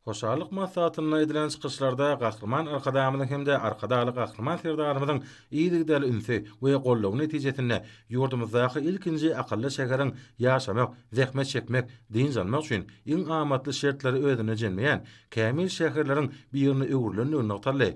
Hoşallyk maslahatynda edilen çykyşlarda Gahryman Arkadagymyzyň hem-de Arkadagly Gahryman Serdarymyzyň yzygiderli ünsi we goldawy netijesinde ýurdumyzdaky ilkinji akylly şäheriň ýaşamak, zähmet çekmek, dynç almak üçin iň amatly şertleri özünde jemleýän kämil şäherleriň birine öwrülendigi nygtaldy.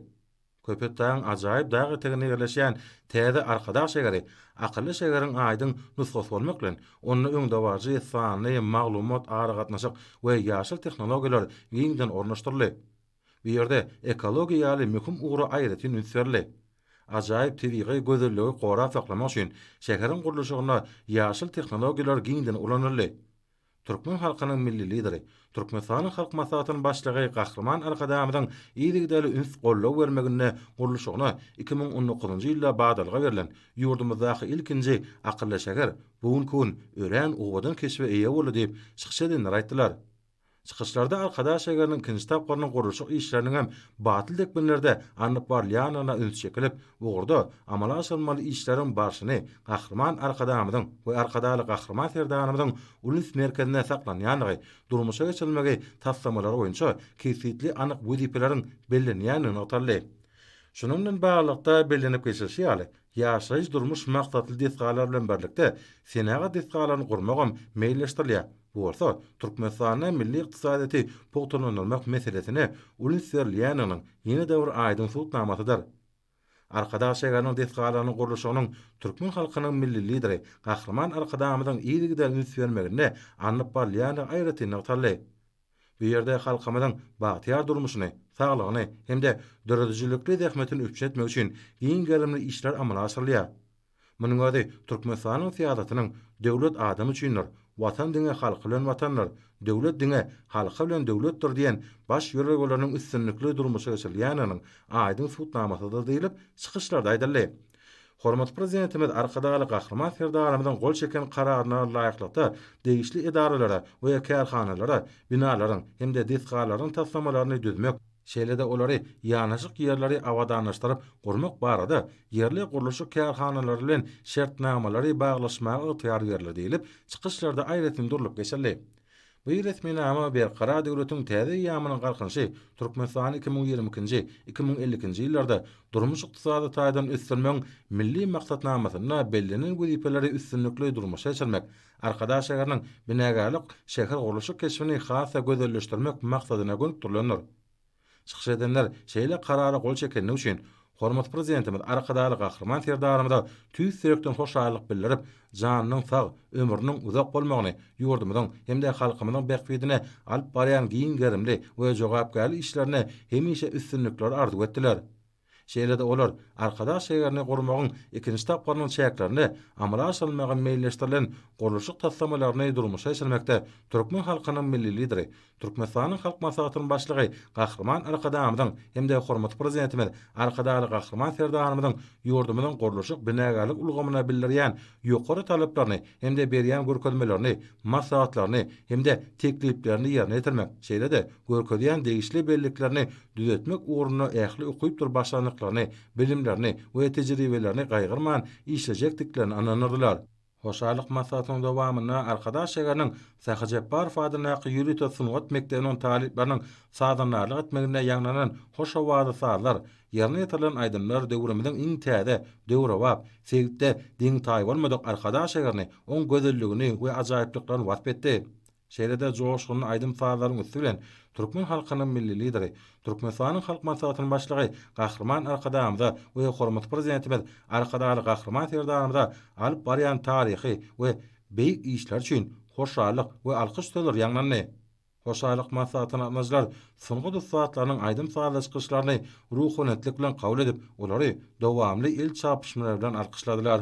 Köpetdagyň ajaýyp dag eteginde ýerleşýän täze Arkadag şägeri akylly şägeriň aýdyň nusgasy bolmak bilen, onda öňdebaryjy sanly maglumat-aragatnaşyk we ýaşyl tehnologiýalar giňden ornaşdyryldy. Bu ýerde ekologiýa ýaly möhüm ugra aýratyn üns berildi. Ajaýyp tebigy gözelligi gorap saklamak üçin şäheriň gurluşygynda ýaşyl tehnologiýalar giňden ulanyldy. Türkmen halkynyň Milli Lideri, Türkmenistanyň Halk Maslahatynyň Başlygy Gahryman Arkadagymyzyň yzygiderli üns-goldaw bermeginde gurluşygyna iki müň on dokuzynjy ýylda badalga berlen ýurdumyzdaky ilkinji akylly şäher bu günki gün örän owadan keşbe eýe boldy diýip, çykyş edenler aýtdylar. Çykyşlarda Arkadag şägeriniň ikinji tapgyrynyň gurluşyk işleriniň hem batly depginlerde alnyp barylýandygyna üns çekilip, ugurda amala aşyrylmaly işleriň barşyny Gahryman Arkadagymyzyň we Arkadagly Gahryman Serdarymyzyň ulus merkezinde saklanýandygy, durmuşa geçirilmegi taslamalary boýunça kesgitli anyk wezipeleriň bellenýändigi nygtaldy. Şunuň bilen baglylykda, bellenip geçilişi ýaly, ýaşaýyş-durmuş maksatly desgalar bilen birlikde, senagat desgalaryny gurmagam meýilleşdirilýär. Bu bolsa Türkmenistanda milli ykdysadyýeti pugtalandyrmak meselesine uly üns berilýändiginiň ýene-de bir aýdyň subutnamasydyr. Arkadag şäheriniň desgalarynyň gurluşygynyň türkmen halkynyň Milli Lideri Gahryman Arkadagymyzyň yzygider üns bermeginde alnyp barylýandygy aýratyn nygtaldy. Bu ýerde halkymyzyň bagtyýar durmuşyny, saglygyny hem-de döredijilikli zähmetini üpjün etmek üçin giň gerimli işler amala aşyrylýar. Munuň özi Türkmenistanyň syýasatynyň Döwlet adam üçindir, Watan diňe halky bilen Watandyr, Döwlet diňe halky bilen Döwletdir diýen baş ýörelgeleriniň üstünlikli durmuşa geçirilýändiginiň aýdyň subutnamasydyr diýlip, çykyşlarda aýdyldy. Hormatly Prezidentimiz Arkadagly Gahryman Serdarymyzyň gol çeken Kararyna laýyklykda degişli edaralara we kärhanalara binalaryň hem-de desgalaryň taslamalaryny düzmek, şeýle-de olary ýanaşyk ýerleri abadanlaşdyryp gurmak barada ýerli gurluşyk kärhanalary bilen şertnamalary baglaşmaga ygtyýar berler diýlip, çykyşlarda aýratyn durlup geçildi. Bu resminama Berkarar döwletiň täze eýýamynyň Galkynyşy Türkmenistany iki müň ýigrimi ikinji, iki müň elli ikinji ýyllarda durmuş-ykdysady taýdan ösdürmegiň Milli maksatnamasynda bellenen wezipeleri üstünlikli durmuşa geçirmek, Arkadag şäheriniň binagärlik şähergurluşyk keşbini has-da gözelleşdirmek maksadyna gönükdirilendir. Çykyş edenler şeýle karara gol çekendigi üçin hormatly Prezidentimiz Arkadagly Gahryman Serdarymyza tüýs ýürekden hoşallyk bildirip, janynyň sag, ömrüniň uzak bolmagyny, ýurdumyzyň hem-de halkymyzyň bähbidine alyp barýan giň gerimli we jogapkärli işlerinde hemişe üstünlikleri arzuw etdiler. Şeýle-de olar Arkadag şäherini gurmagyň ikinji tapgyrynyň çäklerinde amala aşyrylmagy meýilleşdirilen gurluşyk taslamalaryny durmuşa geçirmekde türkmen halkynyň Milli Lideri, Türkmenistanyň Halk Maslahatynyň Başlygy Gahryman Arkadagymyzyň hem-de hormatly Prezidentimiz Arkadagly Gahryman Serdarymyzyň ýurdumyzyň gurluşyk-binagärlik ulgamyna bildirýän ýokary talaplaryny hem-de berýän görkezmelerini, maslahatlaryny hem-de tekliplerini ýerine ýetirmek, şeýle-de görkezýän degişli belliklerini düzetmek ugrunda ähli ukypdyr başarnyklaryny, bilimlerini we tejribelerini gaýgyrman işlejekdiklerine ynanyrdylar. Hoşallyk maslahatynyň dowamynda Arkadag şäheriniň Sahy Jepbarow adyndaky ýörite sungat mekdebiniň talyplarynyň sazandarlyk etmeginde ýaňlanan hoş owazly sazlar, ýerine ýetirilen aýdymlar döwrümiziň iň täze, döwrebap, sebitde deňi-taýy bolmadyk Arkadag şäherini, oň gözelligini we ajaýyplyklaryny wasp etdi. Şeýle-de joşgunly aýdym-sazlaryň üsti bilen türkmen halkynyň Milli Lideri, Türkmenistanyň Halk Maslahatynyň Başlygy Gahryman Arkadagymyza we hormatly Prezidentimiz Arkadagly Gahryman Serdarymyza alyp barýan taryhy we beýik işleri üçin hoşallyk we alkyş sözleri ýaňlandy. Hoşallyk maslahatyna gatnaşyjylar sungat ussatlarynyň aýdym-sazly çykyşlaryny ruhaniyetlik bilen kabul edip, olary dowamly el çarpyşmalar bilen alkyşladylar.